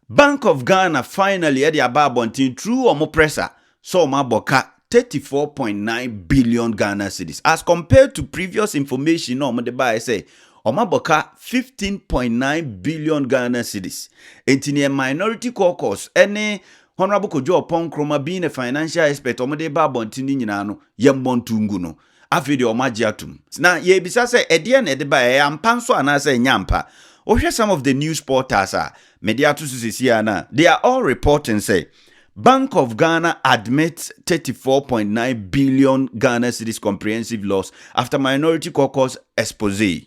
Bank of Ghana finally de aba abɔnten through wɔn pressa sɛ wɔn abɔ ka thirty four point nine billion Ghana cedis as compared to previous information na wɔn de baeɛ sɛ wɔn abɔ ka fifteen point nine billion Ghana cedis nti neɛ minority caucus ne Honourable Kojo Oppong Nkrumah being a financial expert wɔn de ba abɔnten no nyinaa no yɛmmɔ nto ngu no Afei deɛ wɔagye atom. Na yɛrebisa sɛ ɛdeɛn na ɛde baeɛ, ɛyɛ ampa nso anaasɛ ɛnyɛ ampa? Wohwɛ some of the news portals a mede ato so seesei ara no a, they are all reporting sɛ Bank of Ghana admits thirty four point nine billion Ghana cedis comprehensive loss after Minority Caucus expose.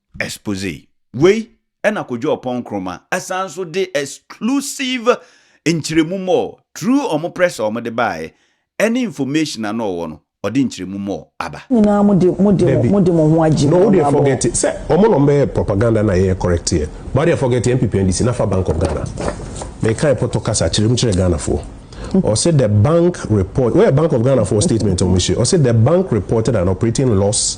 Exposé. Wei na Kojo Oppong Nkrumah ɛsan nso de exclusive nkyerɛmu mɔɔ through ɔmo press a ɔmo de baaɛ ɛne information a na ɔwɔ no ɔde nkyerɛmu mɔɔ aba. Mo nyinaa mo de mo de mo de mo ho agye me ɔno abɔ wɔn. Dabi, wodeɛ forget sɛ ɔmo na ɔmo bɛyɛ propaganda na yɛyɛ correct yɛ, but wodeɛ forget NPP NDC na fa Bank of Ghana. Mekae pɔtɔ kasa kyerɛ mu kyerɛɛ Ghanafoɔ. Ɔse the bank report, woyɛ Bank of Ghanafoɔ statement a ɔmo hyɛ, ɔse the bank reported an operating loss,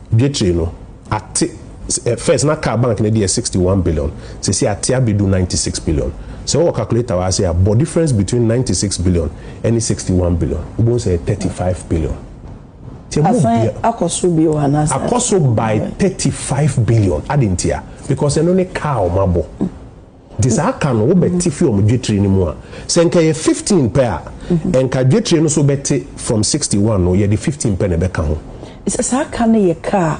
Dwetire no ate First na car bank no deɛ sixty one billion sɛsi ate abɛdu ninety six billion sɛ wowɔ calculator wɔ ase a bɔ difference between ninety six billion ɛne sixty one billion wobɛhu sɛ ɛyɛ thirty five billion nti ɛmu Asan bia akɔ so bio anaasɛ akɔ so by thirty five billion adɛn ntia because ɛno ne car a wɔabɔ. Nti saa ka no wobɛte fi wɔn dwetire no mu a, sɛ nka ɛyɛ fifteen pɛ a, nka dwetire no so bɛte from sixty one no, yɛde fifteen pɛ na ɛbɛka ho. Sɛ saa ka no yɛ ka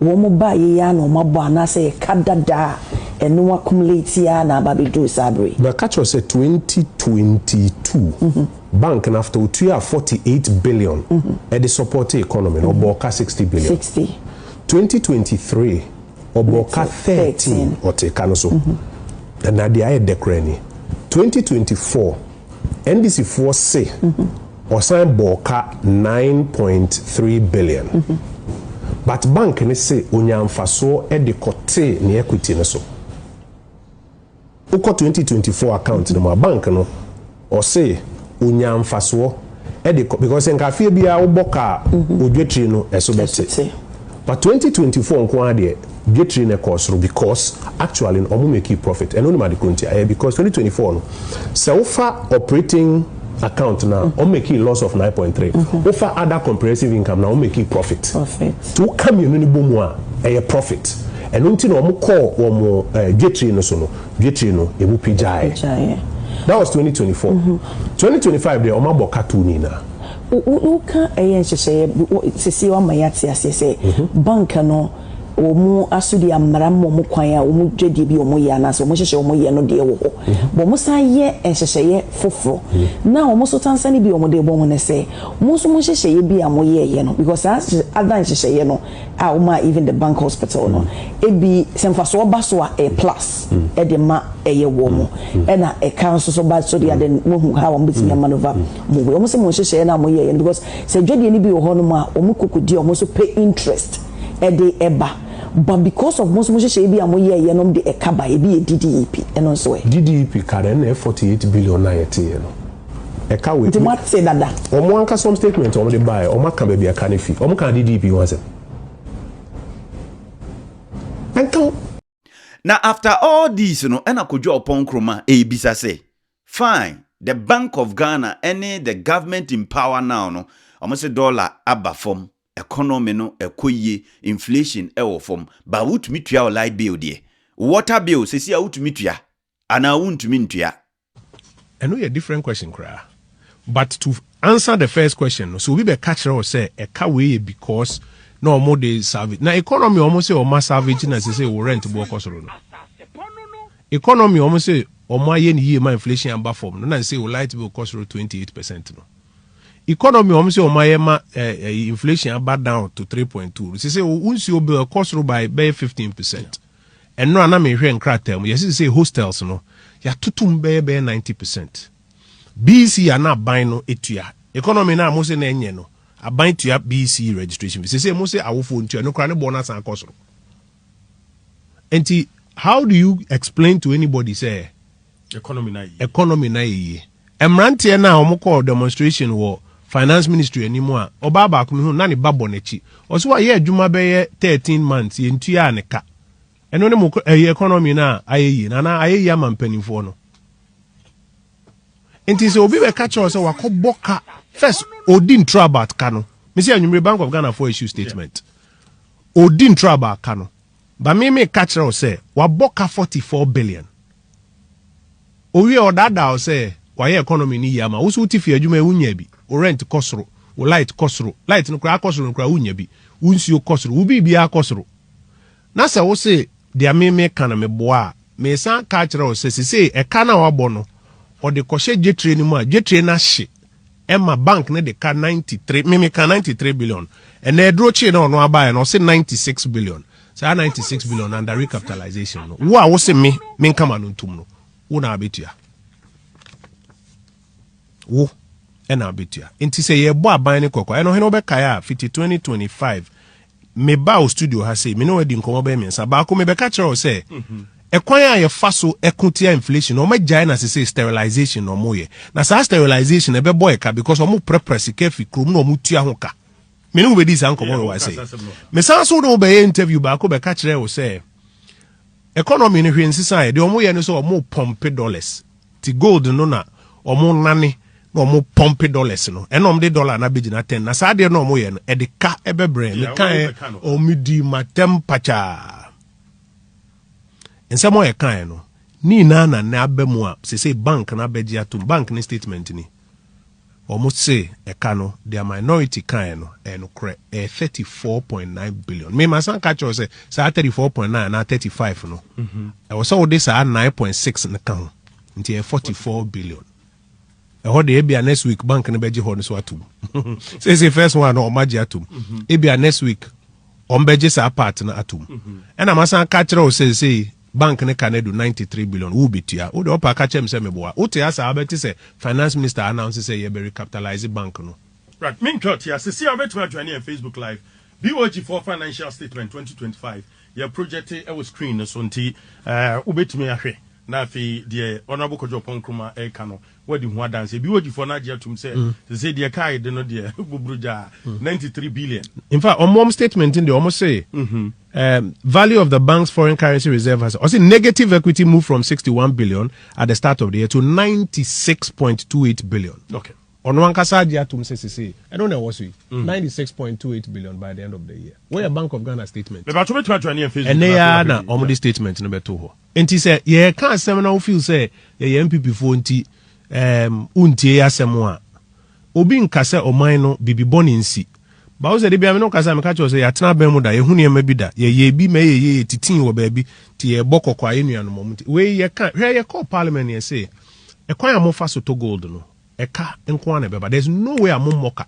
a wɔn baeɛ yi ara na wɔn abɔ anaasɛ ɛyɛ ka dada a ɛno accumulate yi ara na aba abɛduru saa berɛ yi. Mɛka kyerɛ wo sɛ twenty twenty two, bank no after ɔtuaa forty eight billion de supportee economy no, ɔbɔɔ ka sixty billion. Sixty. Twenty twenty three, Ɔbɔ ka thirteen ɔte ka no so ɛna deɛ ayɛ dɛ koraa ni twenty twenty four NDC foɔ se ɔsan bɔɔ ka nine point three billion but bank no se onyaa nfasoɔ de kɔtee ne equity no so. Wo kɔ twenty twenty four account no mu a bank no ɔse onyaa nfasoɔ ɛde kɔ because nka afeɛ biara wo bɔ kaa mhm. odwetiri no ɛso bɛte but twenty twenty four nko ara deɛ dwetiri no ɛkɔɔ soro because actually no ɔmo make profit ɛno no ma de kuro nti ɛyɛ because twenty twenty four no sɛ wofa operating account na o make loss of nine point three o fa other comprehensive income na o make profit ti o ka mienu ni bɔ mu a ɛyɛ profit ɛno nti na wɔn kɔɔ wɔn ɛɛ dwetiri no so no dwetiri no emu pi gyae that was twenty twenty four twenty twenty five deɛ wɔn abɔ ka tu ni na. o o ka ɛyɛ nhyehyɛeɛ sisi wɔn ama yɛ ate aseɛ sɛ bank no. wɔn asodi ammara mma wɔn kwan a wɔn dwadie bi a wɔyɛ anaasɛ wɔn nhyehyɛɛ a wɔyɛ no deɛ wɔ hɔ. Bɔ wɔn san yɛ nhyehyɛeɛ foforɔ. Na wɔn so tansane bi a wɔn de bɔ wɔn ne sɛ, mo nso mo nhyehyɛeɛ bi a mo yɛɛyɛ no, because saa other nhyehyɛeɛ no a wɔn maa even the bank hospital no, ebi sɛ mfasoɔ ba so a ɛyɛ plus de ma ɛyɛ wɔn. Ɛna ɛka nso so ba so deɛ then mo ahu how a mo bɛtumi a manoeuvre mo way. Wɔn se mo nhyehyɛeɛ no a mo yɛɛyɛ no because sɛ dwadie no bi wɔ hɔ nom a wɔn kɔ kɔdi a wɔn nso pɛ interest. ɛde ɛba but because of mo nso mo nhyehyɛeɛ bi a mo yɛɛyɛ nom de ɛka ba ebi yɛ DDEP ɛno nso ɛ. DDEP ka dɛ ɛna ɛ forty eight billion na yɛ teeɛ no ɛka wei. Nti mo ate dada. Wɔn ankasa wɔn statement a wɔn de baeɛ wɔn aka baabi a ɛka no fi wɔn kaa DDEP ho asɛm ɛnka ho. Na after all these no ɛna Kojo Oppong Nkrumah ɛrebisa sɛ fine the bank of Ghana ɛne the government in power now no wɔn se dollar aba fam Economy no ɛkɔ yie, inflation ɛwɔ fam, but wotumi tua wo light bill deɛ? Wo water bill sɛsi a wotumi tua anaa wontumi ntua? Ɛno yɛ different question koraa. But to answer the first question no, sɛ obi bɛka kyerɛ wo sɛ ɛka wei yɛ because na wɔn de salvage, na economy a wɔn se wɔn asalvage na sɛsɛi wo rent boɔ kɔ soro no. Economy a wɔn se wɔn ayɛ no yie ma inflation aba fam no na sɛsɛi wo light bill kɔ soro twenty eight percent no. Economy wɔn se wɔn ayɛ ma ɛyi inflation aba down to three point two sɛ sɛ wo nsuo bill ɛkɔ soro by bɛyɛ fifteen percent ɛno a na mehwɛ nkrataa mu yɛsi sɛ hostels no yɛatoto mu bɛyɛ bɛyɛ ninety percent BEC a na aban no etua economy na mo se na ɛnyɛ no aban tua BEC registration bi sɛ sɛ mo se awofoɔ ntua no kora ne boɔ no asan akɔ soro nti how do you explain to anybody sɛ economy na yɛ yie. Mmeranteɛ no a wɔkɔɔ demonstration wɔ finance ministry anim a ɔbaa baako mehu na ne ba bɔ n'akyi. Ɔsɛ wayɛ adwuma bɛyɛ 13 months yɛntuaa ne ka. Ɛno ne mo ɛyɛ economy no a ayɛ yie na anaa ayɛ yie ama mpanimfoɔ no. Nti sɛ obi bɛka kyerɛ sɛ wakɔbɔ ka first odi ntoro about ka no. Mesi anwummere Bank of Ghana for issue statement. Odi ntoro about ka no. Ba me me ka kyerɛ sɛ wabɔ ka 44 billion. Owie a, ɔdaadaa wo sɛ wayɛ economy no yie ama wo. Wo nso wote fie adwuma yi wonyaa bi. Wo rent kɔ soro, wo light kɔ soro. Light no koraa akɔ soro no koraa wonnya bi. Wo nsuo kɔ soro, wo biribiara kɔ soro. Na sɛ wo se deɛ me meka no meboa a, mesan aka akyerɛ wo sɛ sesei ɛka no a wabɔ no, ɔde kɔhyɛ dwetire no mu a, dwetire no ahye. Ɛma bank no de ka ninety three me me ka ninety three billion ɛnna ɛduro kyee na ɔno abaayɛ na ɔse ninety six billion saa ninety six billion under recapitalization no wo a wo se me me nkama no ntum no wo na abetua wo ɛna abetua nti sɛ yɛbɔ aban ne kɔkɔ ɛno hene wobɛkae a fiti twenty twenty five mebaa wo studio ha sei me ne wɔadi nkɔmmɔ bɛyɛ mmiɛnsa baako mebɛka kyerɛ wo sɛ ɛkwan a yɛfa so ɛko tia inflation wɔn agyae na sese sterilization na wɔn yɛ na saa sterilization ɛbɛbɔ yɛ ka because wɔn prɛprɛ sika fi kurom na wɔn tua ho ka me ne wo bɛdi saa nkɔmmɔ no wa sɛ mesan so ne wo bɛyɛ interview baako bɛka kyerɛ wo sɛ economy no hwɛ nsesa yɛ deɛ wɔn yɛ no sɛ wɔn pɔmpe dollars Ti gold no na ɔmo nane na ɔmo pɔmpe dollars no ɛna ɔmo de dollar na bɛgyina ten na saa adeɛ na ɔmo yɛ no ɛde ka ɛbɛbrɛ me kaɛ ɔmo di matɛm pakyaa nsɛm ɔyɛ kaɛ no ne nyinaa na nɛ aba mu a sese bank na abɛgye atom bank ne statement ni. Wɔn se ɛka no deɛ minority kaeɛ no ɛyɛ nokorɛ, ɛyɛ thirty four point nine billion. Me ma san ka kyerɛ wo sɛ saa thirty four point nine anaa thirty five no ɛwɔ sɛ wode saa nine point six no ka ho nti ɛyɛ forty four billion. Ɛhɔ deɛ ebia next week bank no bɛgye hɔ no so atom. Seesei first one no wɔn agye atom. Ebia next week wɔn bɛgye saa part no atom. Ɛna ma san ka kyerɛ wo sɛ seesei Bank no ka no adu ninety three billion, wo betua? Wo de ɔpɛ a ka kyerɛ me sɛ meboa. Wo te ase a wobɛte sɛ Finance Minister announce sɛ yɛbɛ recapitalize bank no. Bra me ntwa ɔtea, sesei a wobɛtumi a joine yɛn Facebook live, BOG foɔ financial statement twenty twenty five, yɛ project wɔ screen no so nti wobɛtumi ahwɛ na afei deɛ Honourable Kojo Oppong Nkrumah ɛreka no Wadi ho adanse. Ebi wodifo no agye atum sɛ sesei deɛ kaa yi de no deɛ bobro gyaa, ninety three billion. In fact, wɔn wɔn statement no deɛ wɔn se um, value of the bank's foreign currency reserve has ɔse negative equity move from sixty one billion at the start of the year to ninety six point two eight billion. Okay. ɔno ankasa agye atom sɛ sesei ɛno na ɛwɔ so yi mm. ninety six point two eight billion by the end of the year wɔyɛ bank of ghana statement. bɛbɛ ato bɛtumi atwa ne yɛn facebook. ɛnɛ yɛ na wɔn de statement no bɛto hɔ. Nti sɛ yɛka asɛm na wo feel sɛ yɛyɛ NPP foɔ nti um, wontie yɛ asɛm a, obi nka sɛ ɔman no bibi bɔne nsi. Ba wo sɛ de bia me no kasa meka kyerɛ sɛ yɛatena abɛn mu da, yɛhu nneɛma bi da, yɛyɛ bi ma ɛyɛ yie, yɛtitii wɔ baabi, nti yɛbɔ kɔkɔ a yɛn nuanom ɔmo nti. Wei yɛka, hwɛ yɛkɔɔ parliament yɛse, ɛkwan a mofa so tɔ gold no, ɛka nko ara na ɛbɛba there is no way a mo mmɔ ka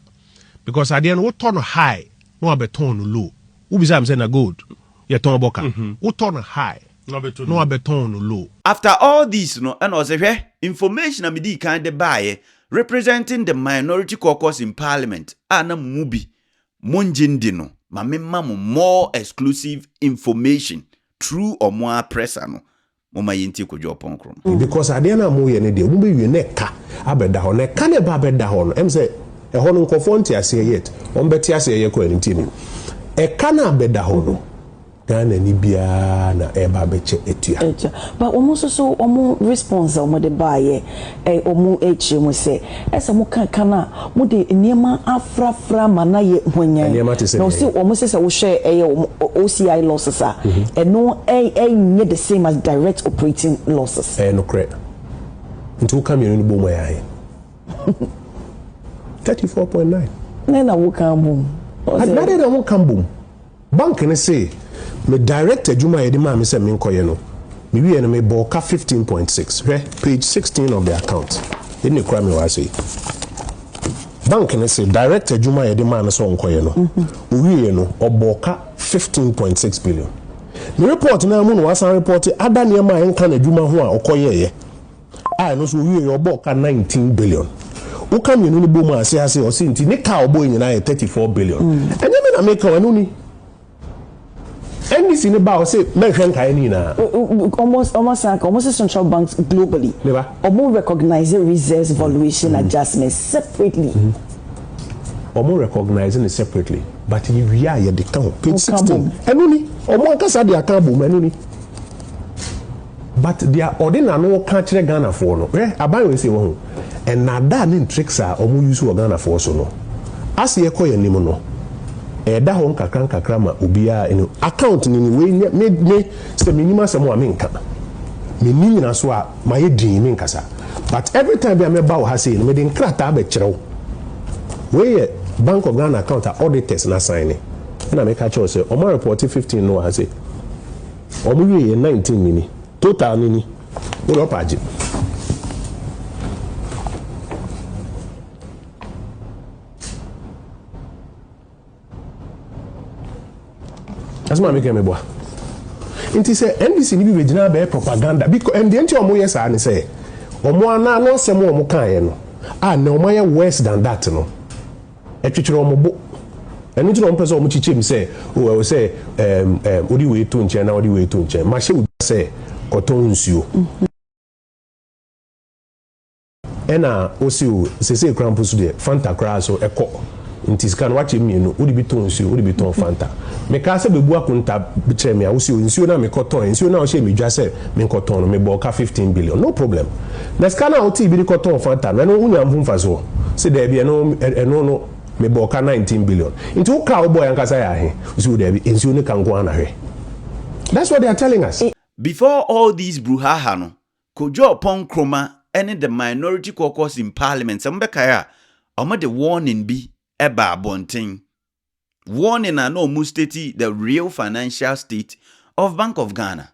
because adeɛ no wotɔ no high na wabɛtɔn no low wobisa mi sɛ na gold yɛtɔn bɔ ka mhm. wotɔ no high na wabɛtɔn no low. After all this no ɛna ɔsɛ hwɛ information a medii kan de baeɛ representing the minority caucus in parliament a na mo mu bi mo ngye ndi no ma memma mo more exclusive information through ɔmo ara press ano Momma yɛntie Kojo Oponkorom. Because adeɛ no a moyɛ no deɛ mobɛwie na ɛka abɛda hɔ na ɛka no ɛba abɛda hɔ no ɛm sɛ ɛhɔ no nkorɔfoɔ nte aseɛ yet wɔn bɛte aseɛ yɛ kɔ anim tianim ɛka no abɛda hɔ no Ghana ni biara na ɛreba abɛkyɛ atua. But wɔn nso so wɔn response a wɔde baeɛ Ɛwɔ mu akyiri mu sɛ ɛsɛ sɛ moka kan a mode nneɛma afrafra ma no ayɛ hwanyann, na ɔse wɔn sɛ sɛ wohwɛ ɛyɛ wɔn OCI losses a, ɛno ɛnyɛ the same as direct operating losses. Ɛyɛ nokorɛ. Nti woka mmienu no bom a ɛyɛ ahe? Thirty four point nine. Dɛn na woka bom? Adɛn na wɔka bom? Bank no see me direct adwuma a yɛde maa me sɛ menkɔyɛ no, mewiee no mebɔɔ ka fifteen point six, hwɛ page sixteen of the account, ɛnna ɛkura me wɔ ha sei. Bank no se direct adwuma a yɛde maa no sɛ ɔnkɔyɛ no, ɔwieeɛ no, ɔbɔɔ ka fifteen point six billion. Ne report no ara mu na wasan report other nneɛma a ɛnka n'adwuma ho a ɔkɔyɛeɛ. a ɛno nso ɔwieɛ yɛ ɔbɔɔ car nineteen billion wo ka mmienu no bɔ mu a se ase ɔse nti ne car ɔbɔɔ nyinaa yɛ thirty four billion mm. ɛnyɛ me na meka o ɛno ni ndc ne ba ɔse mɛnhwɛ nkaeɛ no nyinaa ɔmo san ka ɔmo se central banks globally ɔmo recognize reserves valuation mm. adjustment separately mm -hmm wɔn recognize no separately but yɛ wie a yɛde ka ho page sixteen ɛno ni wɔn ankasa de aka abom ɛno ni. But deɛ ɔde n'ano ka kyerɛ Ghanafoɔ no, hwɛ aban wei sei wahu, nnaadaa ne ntricks a wɔn use wɔ Ghanafoɔ so no, as yɛkɔ yɛn anim no, ɛda hɔ nkakra nkakra ma obiara anu. Account no ni, wei nyɛ me, me sɛ menim asɛm a menka, menni nyinasoɔ a mayɛ dinn menkasa, but every time bi a mɛba wɔ ha sei no mede nkrataa bɛkyerɛ wo, wei yɛ Bank of Ghana account a auditors no asaene, ɛna meka kyerɛ wo sɛ wɔn a report 15 no wɔ ha sei. Ɔmo wie yɛ nineteen no ni. Total no ni. Wo deɛ ɔpɛ a gye. Ɛsɛ maame kɛn meboa. Nti sɛ NDC ni bi bɛgyina abɛyɛ propaganda bi ɛndeɛ nti ɔmo yɛ saa ne sɛ ɔmo ana ano asɛm ɔmo kaeɛ no a na ɔmo ayɛ worse than that no. Ɛtwetwere wɔn bo. Ɛno nti na wɔpɛ sɛ wɔkyekyɛ mu sɛ, O, ɛwɔ sɛ ɛɛm, ɛɛm, wode wei to nkyɛn na wode wei to nkyɛn. Mahyɛ wo da sɛ kɔtɔn nsuo. Ɛna wose, O, seesei koraa mpo so deɛ, Fanta koraa so, ɛkɔ. Nti sika no, woakyɛ mu mmienu. Wode bi tɔn nsuo, wode bi tɔn Fanta. Mekaa sɛ bɛbu akonta kyerɛ me a, wose, O, nsuo no a mekɔtɔn, nsuo no a wohyɛɛ me dwa sɛ menkɔtɔn no, mebɔɔ ka fifteen billion. No problem. Na sika no a wotee bi de kɔtɔɔ Fanta no, ɛno wonyaa ho mfasoɔ? Ɔse, Daabi, ɛno, ɛno no, mebɔɔ ka nineteen billion. Nti wo ka a wobɔɔe ankasa yɛ ahe? Ɔse, Oh, daabi, nsuo ne ka nko ara na hwɛ. That's what they are telling us. Before all these bruhaha no, Kojo-Oppong Nkrumah ne the minority caucus in parliament, sɛ mobɛkae a, wɔde warning bi baa abɔnten, warning a na wɔn state the real financial state of Bank of Ghana.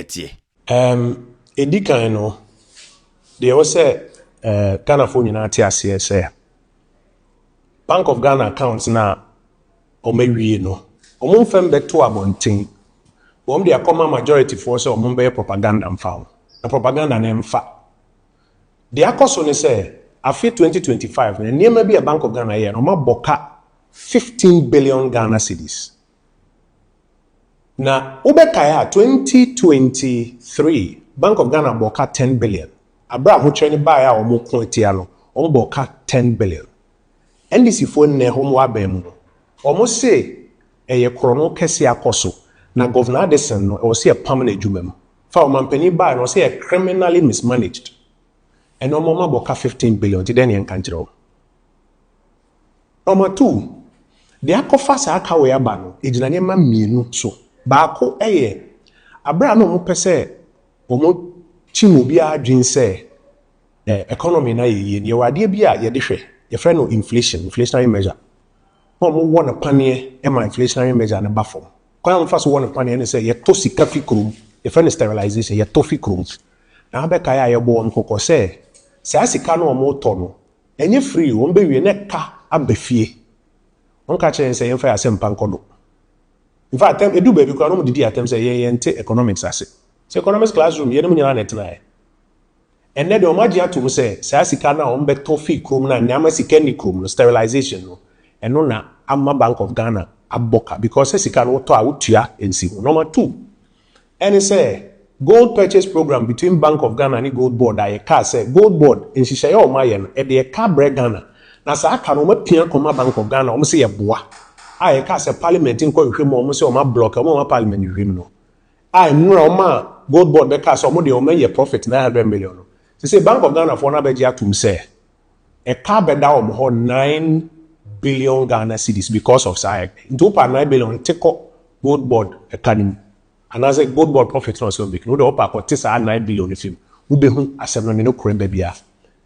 ɛteɛ? Ɛɛm, ɛdi kan no, deɛ ɛwɔ sɛ Ghanafoɔ nyinaa te aseɛ sɛ, Bank of Ghana account no a wɔawie no, wɔmfa mmɛto abɔnten. Wɔde akɔma majorityfoɔ sɛ wɔmmɛyɛ propaganda mfa ho, na propaganda no mfa. Deɛ akɔ so ne sɛ, afe 2025 no, nneɛma bi a Bank of Ghana yɛeɛ no, wɔabɔ ka 15 billion Ghana cedis. Na wobɛkae a, twenty twenty three, Bank of Ghana bɔɔ ka ten billion. Aberɛ a ahokyerɛ no baeɛ a wɔko atia no, wɔbɔɔ ka ten billion. NDC foɔ nnɛ wɔn wɔ aban mu no, wɔse ɛyɛ korɔno kɛseɛ akɔ so, na Governor Addison no, ɛwɔ sɛ yɛpam no adwuma mu. Fa ɔmanpanin baeɛ no, wɔse ɛyɛ criminally mismanaged. Ɛnnɛ wɔn abɔ ka fifteen billion, nti dɛn na yɛnka nkyerɛ wɔn? Wɔatow de akɔfa saa kaw yi aba no gyina nneɛma mmienu so. Baako yɛ bere a na wɔpɛ sɛ wɔkyim obiara adwene sɛ economy no ayɛ yie no, yɛwɔ adeɛ bi a yɛde hwɛ, yɛfrɛ no inflation, inflationary measure, na wɔwɔ no paneɛ ma inflationary measure no ba fam. Kwan a wɔfa so wɔ no paneɛ ne sɛ yɛtɔ sika fi kurom, yɛfrɛ no sterilization, yɛtɔ fi kurom. Na abɛkae a yɛbɔ wɔn kɔkɔ sɛ saa sika no a wɔtɔ no, Enye firi wɔn bewie na ɛka aba fie. Wɔn ka kyerɛ yɛn sɛ yɛnfa yɛn asɛmpa nkɔ do. In fact, edu baabi koraa no wɔn didi atɛm sɛ yɛn yɛnte economics ase. Sɛ economics class room, yɛne wɔn nyinaa na ɛtenaeɛ. Ɛnnɛ deɛ wɔn agye ato mu sɛ saa sika no a wɔn bɛtɔ firi kurom no a nneɛma sika nni kurom no, sterilization no, ɛno na ama Bank of Ghana abɔ ka because sɛ sika no wotɔ a wotua nsi ho. Number two. Ɛne sɛ, Gold Purchase Programme between Bank of Ghana ne Gold Board a yɛkaa sɛ Gold Board nhyehyɛeɛ a wɔayɛ no, ɛdeɛ ka brɛ Ghana. Na saa ka no wɔapia kɔma Bank of Ghana, wɔn se yɛboa. A yɛkaa sɛ Parliament nkɔ nhwehwɛ mu a wɔn se wɔn ablɔke, wɔn a wɔma Parliament hwehwɛ mu no. A mmerɛ wɔn maa Gold Board bɛkaa sɛ wɔn deɛ wɔn anya profit nine hundred million no, sesei Bank of Ghana foɔ no abɛgye atom sɛ ɛtaa bɛda wɔn hɔ nine billion Ghana cedis because of saa ɛka yi. Nti wopɛ a nine billion nte kɔ Gold Board ɛka no mu anaasɛ Gold Board profit no a ɔsɛ ɔmake no, wode wopɛ a kɔte saa nine billion no fi mu. Wobɛhu asɛm no ne no korɛ baabi a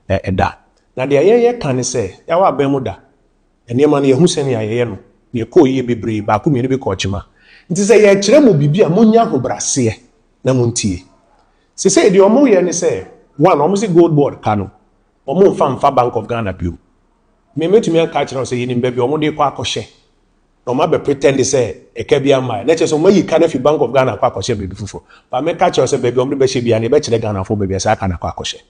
ɛda. Na deɛ yɛyɛ ka ne sɛ, Yaw abɛn mu da. Nneɛma no yɛahu sɛnea yɛyɛ no na ɛkɔɔ yie bebree, baako mmienu bi kɔɔ kyema. Nti sɛ yɛrekyerɛ mo biribi a monnya ahobraseɛ na montie. Seesei deɛ wɔyɛ ne sɛ, one, wɔse Gold Board ka no, Wɔn mfa mfa bank of Ghana bio. Me mɛtumi aka akyerɛ wo sɛ yɛnim baabi a wɔn de kɔ akɔhyɛ na wɔn abɛ pretend sɛ ɛka bi ammaɛ na kyerɛ sɛ wɔn ayi ka no afi bank of Ghana akɔ akɔhyɛ baabi foforɔ but mɛka akyerɛ wo sɛ baabi a wɔn de bɛhyɛ biara no yɛbɛkyerɛ Ghanafoɔ baabi a saa ka no akɔ akɔhyɛ.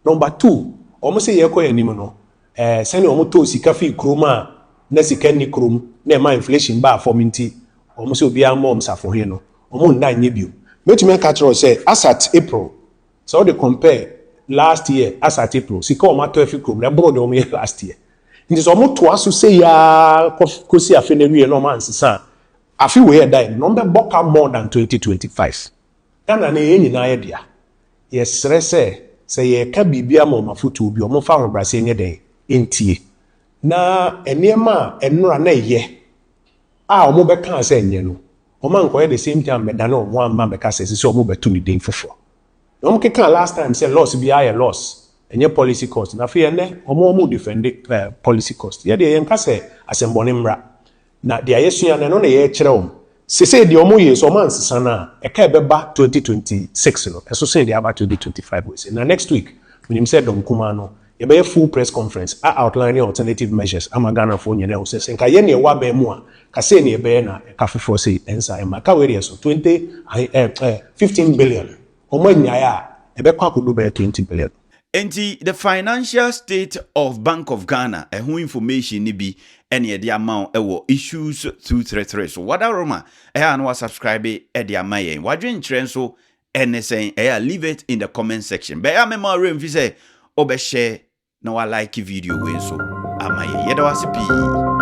Number two, wɔn se yɛkɔ yɛn anim no eh, sɛnea wɔn tɔɔ sika fii kurom a na sika nni kurom na ɛma inflation baa fam nti wɔn se obiara mmɔ wɔn safohene no wɔn nna nyɛ bio. Mɛtumi aka akyerɛ wo sɛ as at April Sɛ wode compare last year as at April, sika a wɔatɔ afi kurom no, ɛboro deɛ wɔyɛ last year. Nti sɛ wɔtoa so sei ara kɔ kɔsi afe no awiei na wɔansesa a, afe wei a ɛda yɛn no wɔbɛbɔ ka more than 2025. Ghana no, yɛn nyinaa yɛ dea. Yɛsrɛ sɛ, sɛ yɛreka biribi ama wɔn afotuo bi a, wɔmfa ahobrɛaseɛ nyɛ dɛn? Ntie. Na nneɛma a ɛnora na ɛyɛ a wɔbɛkaa sɛ ɛnyɛ no, wɔankɔyɛ the same thing ammɛdane wɔn ho amma ammɛka sɛ ɛsɛ sɛ wɔbɛto no din foforɔ. Na wɔkekaa last time sɛ loss biara yɛ loss, ɛnyɛ policy cost. Na afei ɛnnɛ wɔn wɔredefɛnde policy cost. Yɛ deɛ yɛnka sɛ asɛmmɔne mmra, na deɛ yɛasua no ɛno na yɛrekyerɛ wɔn. Sesei deɛ wɔyei nso wɔansesa no a, ɛka ɛbɛba 2026 no ɛso sene deɛ aba 2025 wei sei. Na next week menim sɛ Dɔm Kumaa no Yɛbɛyɛ full press conference a outline alternative measures ama Ghanafoɔ nyina ahu sɛ sɛ nka yɛn na yɛwɔ abɛn mu a nka sei na yɛbɛyɛ na ɛka foforɔ sei ɛnsa ɛmma ɛka wei deɛ so twenty ahe ɛɛ ɛɛ fifteen billion wɔn annyae a ɛbɛkɔ akɔdu bɛyɛ twenty billion. Enti the financial state of Bank of Ghana ɛho information no bi ɛna yɛde ama wo ɛwɔ issues through three three so wadaroma ɛha na wa subscribe ɛde ama yɛn wadwenkyerɛ nso Ɛne sɛn? Ɛyɛ a leave it in the comment section. Bɛyɛ a memma wo werɛ mfi sɛ wobɛhyɛ na woalike video wei nso ama yɛn. Yɛda wo ase pii.